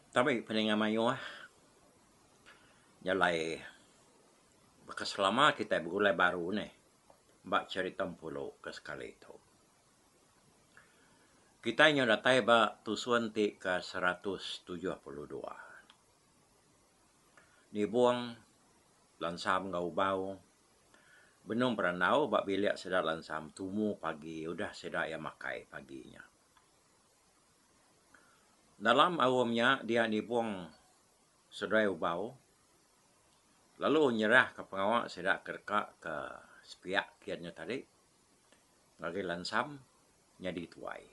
Tabi peninga mayuh jalai baka selama kitai begulai baru nih ba cherita Empulu ke sekali tu. Kitai nyau datai ba tusun ti ke seratus tujuh puluh dua. Nibung lansam enggau ubau benung berandau ba bilik sida lansam tumu pagi udah sida iya makai pagi nya. Dalam aum nya dia nibung seduai ubau lalu nyerahka pengawa sida ke deka ke sepiak kian nya tadi ngagai lansam nyadi tuai.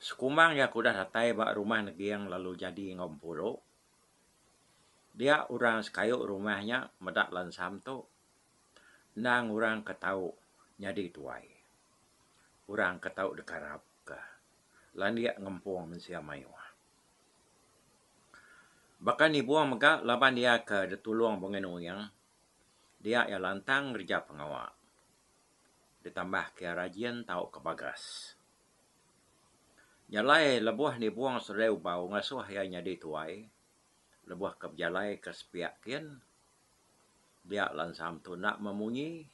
Sekumang iya ke udah datai ba rumah neging lalu nyadi enggau Empuru dia orang sekayu rumah nya meda lansam tu Endang orang ke tau nyadi tuai. Orang ke tau dikarap ke landik ngempung mensia mayuh. Baka ni Bua mega laban iya ke ditulung Bengen Uyang, dia iya lantang ngereja pengawa ditambah ke iya rajin tau ke bagas. Jalai lebuh ni Bua seduai Ubau ngasuh iya nyadi tuai lebuh ke bejalai ke sepiak kin. dia lansang tuna memunyi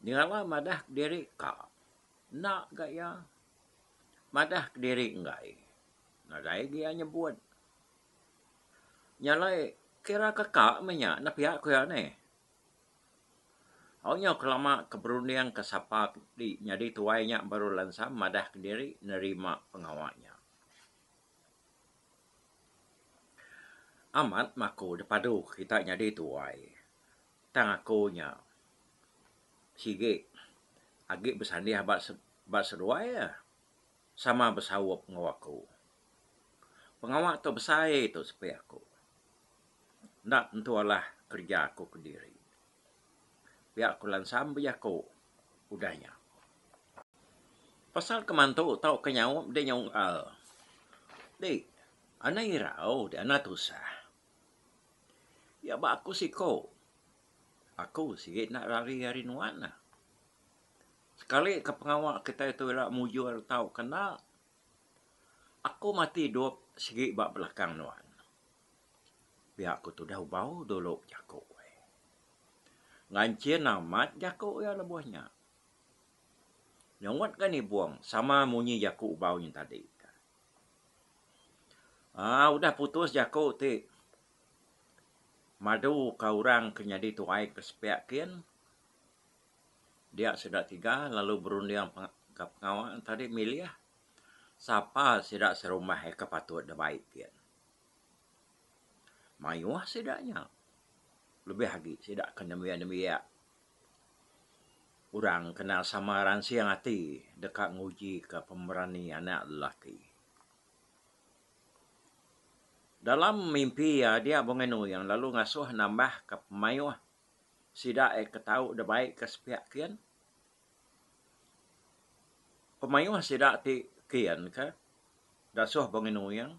nyengala madah kediri ka enda ga iya madah kediri enggai nadai ga iya nyebut nyalai kira ka ka meh nya nepia ku iya neh au nyu ke lama ke berunding ke sapa ti nyadi tuai nya baru lansang madah kediri nerima pengawa nya. Amat meh aku da padu kita nyadi tuai tang aku nya sigi agi besandih ba seduai iya sama besaup enggau aku. Pengawa tu besai tu sepi aku enda tentu alah kerja aku kediri. pia ku lansam bejaku udah nya. Pasal keman tu tauka nyaup deh nyaup ngal. Di anda irau di anda tusah. Iya ba aku siko aku sigi enda rari ari nuan neh. Sekali ke pengawa kitai tu ira mujur tauka enda aku mati idup sigi ba belakang nuan. pia ku tudah ubau dulu jaku eh. Nganchin amat jaku iya lebuh nya. Nyungut ka nibung sama munyi jaku ubau nya tadi ka. Aaa udah putus jaku ti madu ka orang ke nyadi tuai ke sepia kin dia sida tiga lalu berunding ka pengawa tadi milih sapa sida serumah eh ke patut dibai kin. Mayuh sida nya lebih agi sida ke nembiak-nembiak orang kena sama ransing ati deka nguji ke pemberani anak lelaki. Dalam mimpi iya dia Bengai Nuyung lalu ngasuh nambah ke mayuh sida iya ke tau da bai ke sepiak kin. Pemayuh sida ti kin ka Dasuh Bongin Uing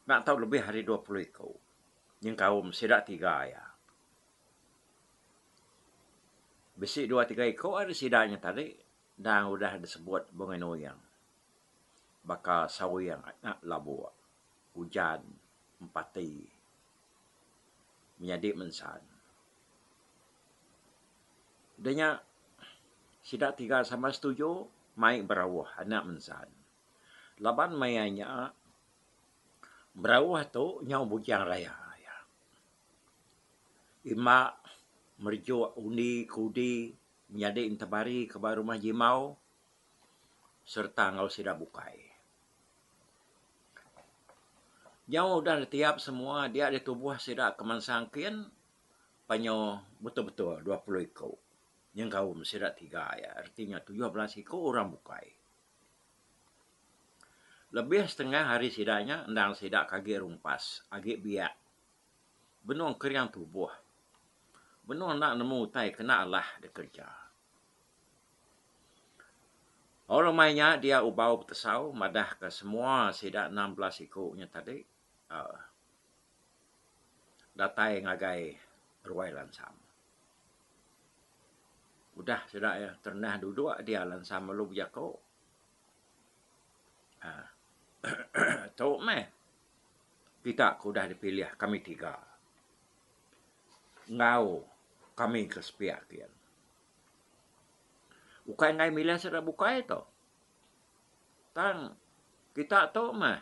enda tau lebih ari dua puluh iku nyengkaum sida tiga iya. Bisi dua tiga iku ari sida nya tadi endang udah disebut Bongin Uing baka Sawing nya labuk, Ujan, Empati. menyadi mensan. Udah nya sida tiga sama setuju mai berauh anak mensan. Laban maya nya berauh tu nyau bujang raya iya. Imba merejuk undi ke udi menyadi entebari ke ba rumah jimau sereta enggau sida bukai. Nyau udah ditiap semua dia ditubuh sida ke mansang kin panyu betul betul dua puluh iku nyengkaum sida tiga iya reti nya tujuh belas iku orang bukai. Lebih setengah ari sida nya endang sida ke agi rumpas agi biak benung kering tubuh benung enda nemu utai kena alah dikereja. Au lemai nya dia Ubau Betesau madah ka semua sida enam belas iku nya tadi aaa datai ngagai Ruai Lansam. Udah sida iya terendah duduk dia Lansam lalu bejako aaa tu meh kita ke udah dipilih kami tiga. enggau kami ke sepiak ke kian. Ukai enggai milih sida bukai tu tang kita tu meh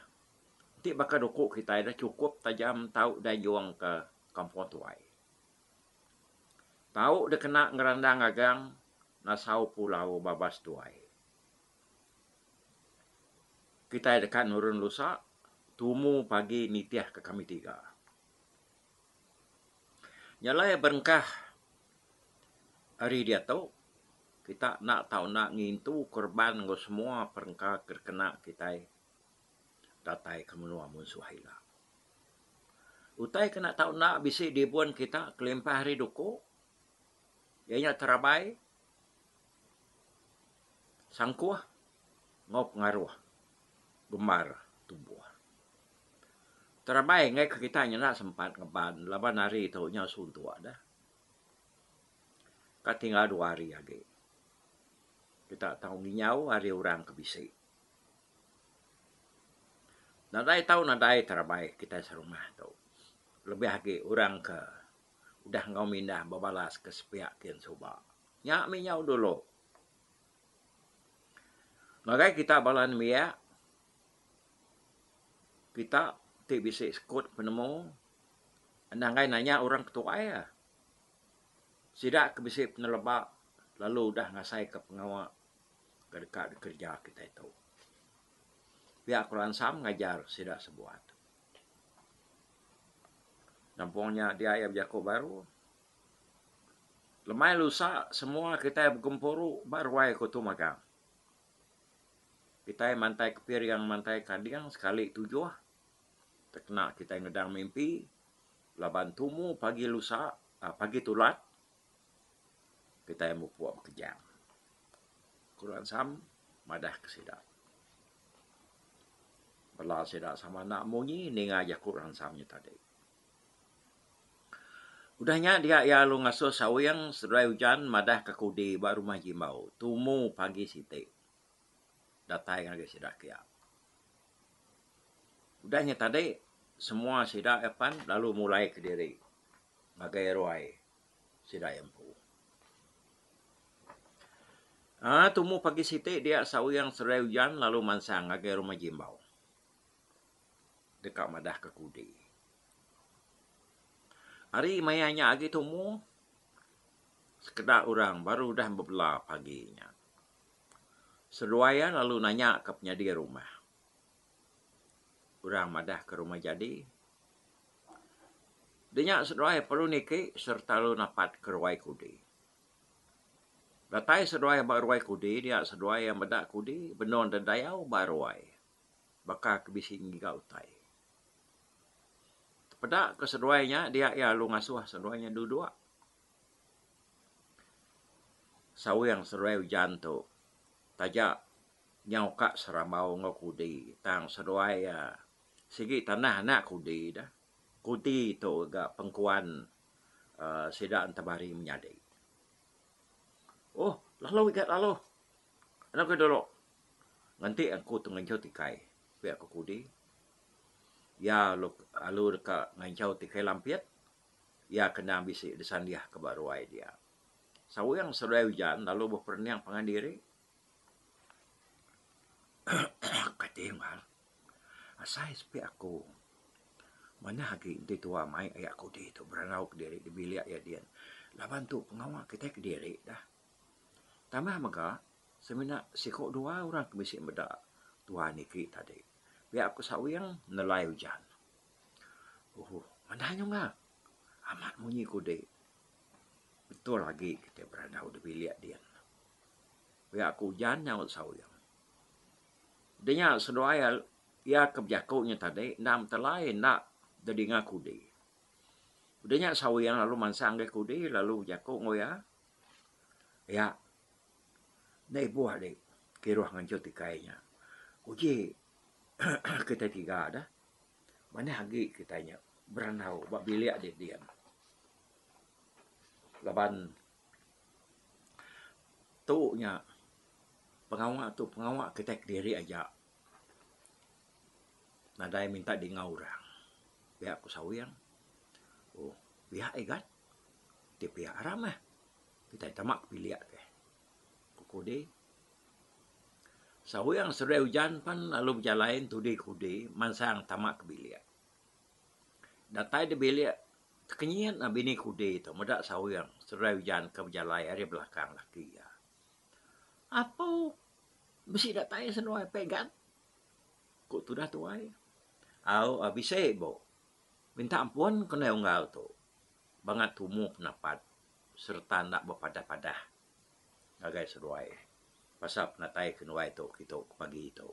ti baka duku kitai dah chukup tajam tau ida nyung ke kampung tuai. Tau dikena ngerandang agang nasau pulau babas tuai. Kitai deka nurun lusa tumu pagi nitih ke kami tiga. Jalai berengkah ari diatu kita enda tau enda ngintu korban enggau semua perengka ke dikena kitai datai ke menua munsuh ila. Utai ke enda tau enda bisi dibun kita kelimpah ari duku iya nya terabai Sangkuh enggau pengaruh gembar tumbuh. Terabai enggai ke kitai nyenda sempat ngeban laban hari tu nya suntuk dah. Ka tinggal dua hari agi kita tau nginyau ari orang ke bisi. Nadai tau nadai terabai kitai serumah tu lebih agi orang ke. udah enggau mindah bebalas ke sepiak kin suba. Nya mih nyau dulu. Ngagai kita bala nembiak, kita ti bisi sekut penemu endang gai nanya orang ke tuai iya. Sida ke bisi peneleba lalu udah ngasaika pengawa ke deka dikereja kitai tu. Pia ku ransam ngajar sida sebuah. Kampung nya dia iya bejaku baru. Lemai lusa semua kitai begempuru ba ruai ku Tung Magang. Kitai mantai kepiring mantai kading sekali tujuh tau kena kitai ngedang mimpi laban tumu pagi lusa pagi tulat kitai mupuk bekejang. Ku Orang Sam madah ke sida. Bala sida sama enda munyi ninga jaku Orang Sam nya tadi. Udah nya dia iya lalu ngasuh Sawing seduai Ujan madah ke kudi ba rumah Jimbau tumu pagi siti datai ngagai sida kiya. Udah nya tadi semua sida iya pan lalu mulai kediri ngagai ruai. sida iya empu. Aa tumu pagi siti dia sawiang seduai ujan lalu mansang ngagai rumah Jimbau deka madah ke kudi. Ari maya nya agi tumu sekeda orang baru udah bebela pagi nya. Seduai iya lalu nanya ka penyadi rumah. orang madah ke rumah jadi. Di nya seduai perlu niki sereta lu napat ke ruai kudi. Datai seduai ba ruai kudi dia seduai iya meda kudi benung deh dayau ba ruai baka ke bisi ngiga utai. Peda ke seduai nya dia iya lalu ngasuh seduai nya duduk. Sawing seduai ujan tu taja. nyau ka serambau enggau kudi tang seduai iya sigi tanah anak kudi dah. Kudi tu ga pengkuan aaa sida entemari menyadi. Ohh lalu iga lalu. Anu ke dulu ngenti aku tengenchau tikai pia aku kudi iya lalu deka ngenchau tikai lampit iya kena bisi disandihka ba ruai dia. Sawiang seduai ujan lalu beperening pangan diri. Kati Mal, asai sepi aku manah agi enti tuwa mai aya kudi tu berandau kediri di bilik iya diin. Laban tu pengawa kitai kediri dah. Tambah mega semina siko duwa orang ke bisi meda tuwa niki tadi. Pia ku Sawing nelai ujan. Uhh manah nyunga amat munyi kudi. Betul agi kitai berandau di bilik diin. pia aku ujan nyaut saung. Dinya seduai iya ke bejaku nya tadi enda metelai enda dedinga kudi. Dinya saung lalu mansang ngagai kudi lalu bejaku enggau iya, Iya, enda ibuh ali kiruh nganjut ikai nya. Uji kitai tiga deh. Manah agi kitai nya berandau ba bilik dinding laban. Tu nya pengawa tu pengawa kitai kediri aja nadai minta dingau orang pia ku sawiang uhh pia igat ti pia aram meh kitai tama ke bilik te ku kudi sawiang seduai ujan pan lalu bejalai ngan tudi ke tudi mansang tama ke bilik. Datai da bilik, tekenyit nah bini kudi tu meda sawing seduai ujan ke bejalai ari belakang laki iya. Apo bisi datai seduai pegan? ku tudah tuai. Au a bisi bu. Minta ampun ku indai unggal tu bangat tumu penapat sereta enda bepadah-padah ngagai seduai pasal penatai keduai tu kitu pagi tu.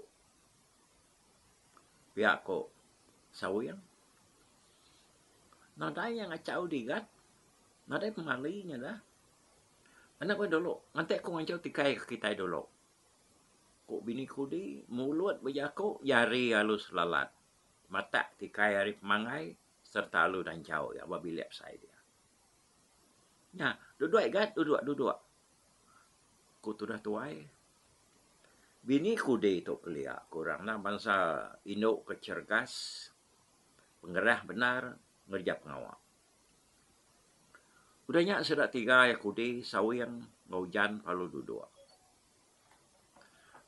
pia ko Sawing nadai iya ngachau digat nadai pemali nya dah enda pun dulu ngante ku ngancau tikai ke kitai dulu ku bini kudi mulut bejaku iya hari alus lalat matak tikai ari pemangai serta alu danchau iya ba bilik besai dia nya duduk igat duduk duduk ku tudah tuai Bini kudi tu kelia ku orang nah bansa indu ke cergas, pengerah bendar ngereja pengawa. Udah nya sida tiga iya kudi Sawing enggau Ujan lalu duduk.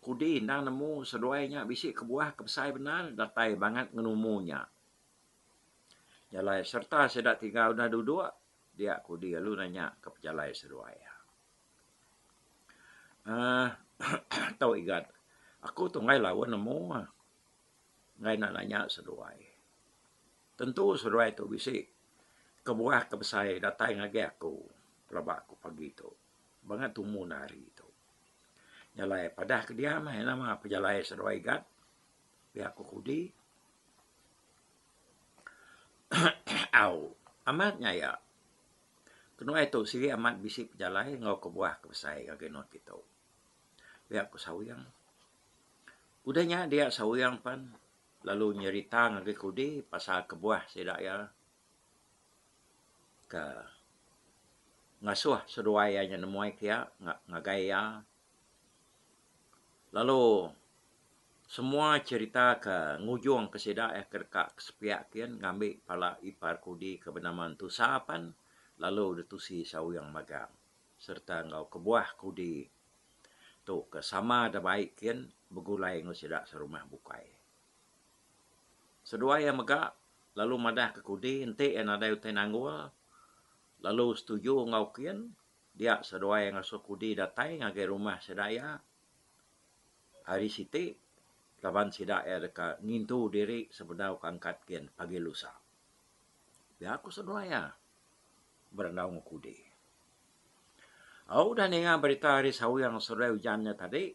Kudi endang nemu seduai nya bisi kebuah ke besai bendar datai bangat ngan umur nya. Nya alai sereta sida tiga udah duduk dia kudi lalu nanya ke pejalai seduai iya. uhh tau igat aku tu enggai lawen nemu uhh enggai nak nanya seduai. Tentu seduai tu bisi kebuah ke besai datai ngagai aku pelaba ku pagi tu bangat tumu ne hari tu. Jalai padah ke diam uhh ina mah pejalai seduai igat pia ku kudi uhh au amat nya iya. Kenuai tu sigi amat bisi pejalai enggau kebuah ke besai ke genut ditu. Pia ku Sawing. Udah nya dia Sawing pen lalu nyerita ngagai Kudi pasal kebuah sida iya ke ngasuh seduai iya nya nemuai pia ngagai iya Lalu semua cherita ke ngujung ke sida iya ke deka ke sepiak kian ngambi pala ipar Kudi ke benama Entu Sa pan lalu ditusi sauyang magang serta enggau kebuah Kudi tu ke sama da baik kian begulai enggau sida serumah bukai. Seduai iya mega lalu madah ke Kudi enti iya nadai utai nanggul lalu setuju enggau kian Dia seduai ngasuh Kudi datai ngagai rumah sida iya hari siti laban sida iya deka ngintu diri sebedau ke angkat gin pagi lusa. Pia ku seduai iya berandau enggau Kudi. Au udah ninga berita ari Sawing seduai ujan nya tadi,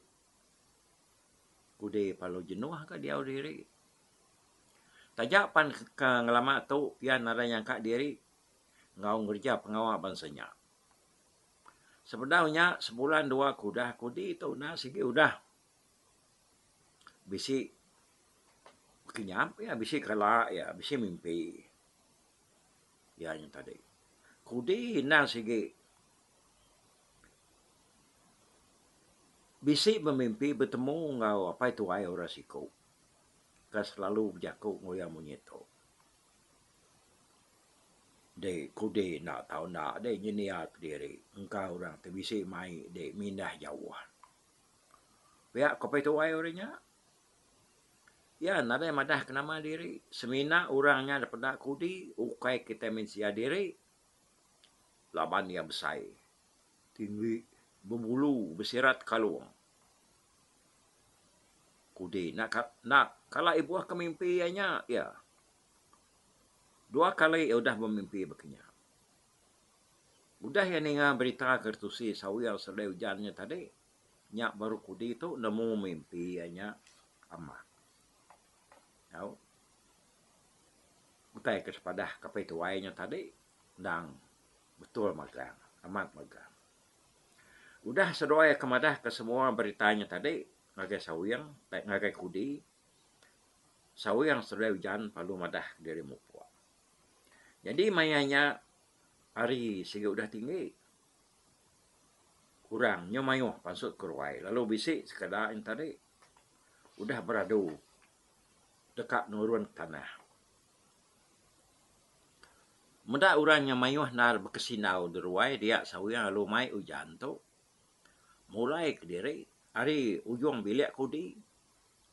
Kudi palu jenuh ka diau diri. Taja pan ka ngelama tu pia nadai nyangka diri enggau ngereja pengawa bansa nya. Sebedau nya, sebulan dua ke udah aku di tu enda sigi udah bisi kinyap iya, bisi kala iya, bisi mimpi iya nya tadi. Kudi enda sigi bisi bemimpi betemu enggau apai tuai orang siku ke selalu bejaku enggau iya munyi tu. Di kudi enda tau enda deh nyedia kediri engka orang ti bisi mai di mindah jauh. Pia ko pia tuai ori nya iya nadai madah ke nama diri semina orang nya deh peda kudi ukai kitai mensia diri laban iya besai tinggi bebulu besirat kalung. Kudi enda kala ibuh ke mimpi iya nya iya. Dua kali iya udah bemimpi baka nya. Udah iya ninga berita ke tusi Sawil Sele Ujan nya tadi, nya baru kudi tu nemu mimpi iya nya amat. Au. Utai ke sepadah Kaping Tuai nya tadi endang betul magang, amat magang. Udah seduai iya ke madahka semua berita nya tadi ngagai Sawil, ngagai kudi. sawi yang seduai ujan lalu madah diri mupok. Jadi maya nya hari sigi udah tinggi kurang nyo maioh pasu ke ruai lalu bisi sekeda nya tadi udah beradu deka nurun ke tanah. Meda orang yang maioh enda bekesinau di ruai dia sawi yang lalu mai ujan tu mulai kediri hari ujung bilik ke udi.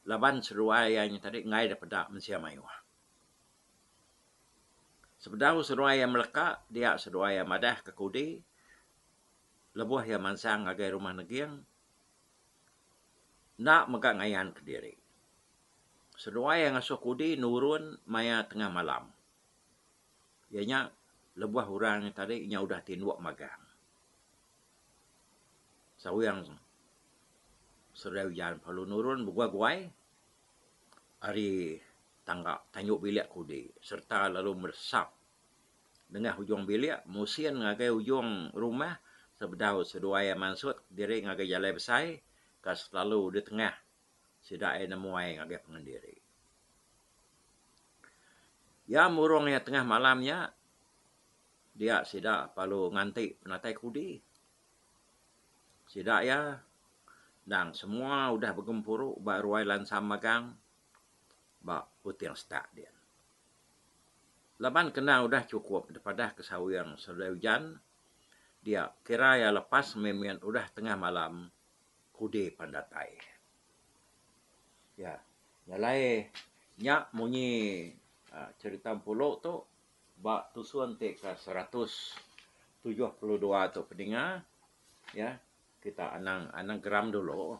laban seruai iya nya tadi enggai deh peda mensia mayuh. Sebedau seruai iya meleka dia seruai iya madah ke kudi lebuh iya mansang ngagai rumah neging enda mega ngayan ke diri. Seruai iya ngasuh kudi nurun maya tengah malam. Iya nya lebuh orang nya tadi inya udah ti endur magang. Sawing serai ujan perlu nurun begua guai ari tangga tanyu bilik kudi serta lalu meresap nengah ujung bilik musin ngagai ujung rumah sebedau seduai iya mansut diri ngagai jalai besai ke selalu di tengah sida iya nemuai ngagai pengen diri. Iya murung iya tengah malam nya Dia sida perlu nganti penatai kudi. Sida iya endang semua udah begempuru ba ruai lansa magang ba Kuting Setak din. Laban kena udah chukup dipadah ke sawing seduai ujan, dia kira iya lepas mimin udah tengah malam kudi pan datai. Iya, nyalai nya munyi cherita Empulu tu. Ba tusun ti ke seratus tujuh puluh dua tu Pedinga iya kita anang anagram dulu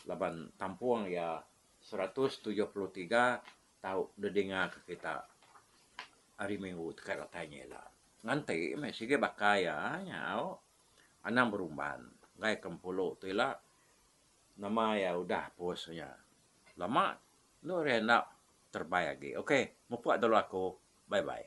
laban tampung iya seratus tujuh puluh tiga tau didinga ke kita hari minggu teka datai nya ila. Ngan ti meh sigi baka iya nyau anang berumban enggai ke Empulu tu ila nama iya udah post nya lama. Endo ari anak terbai agi. Ok mupuk dulu aku. Bye bye.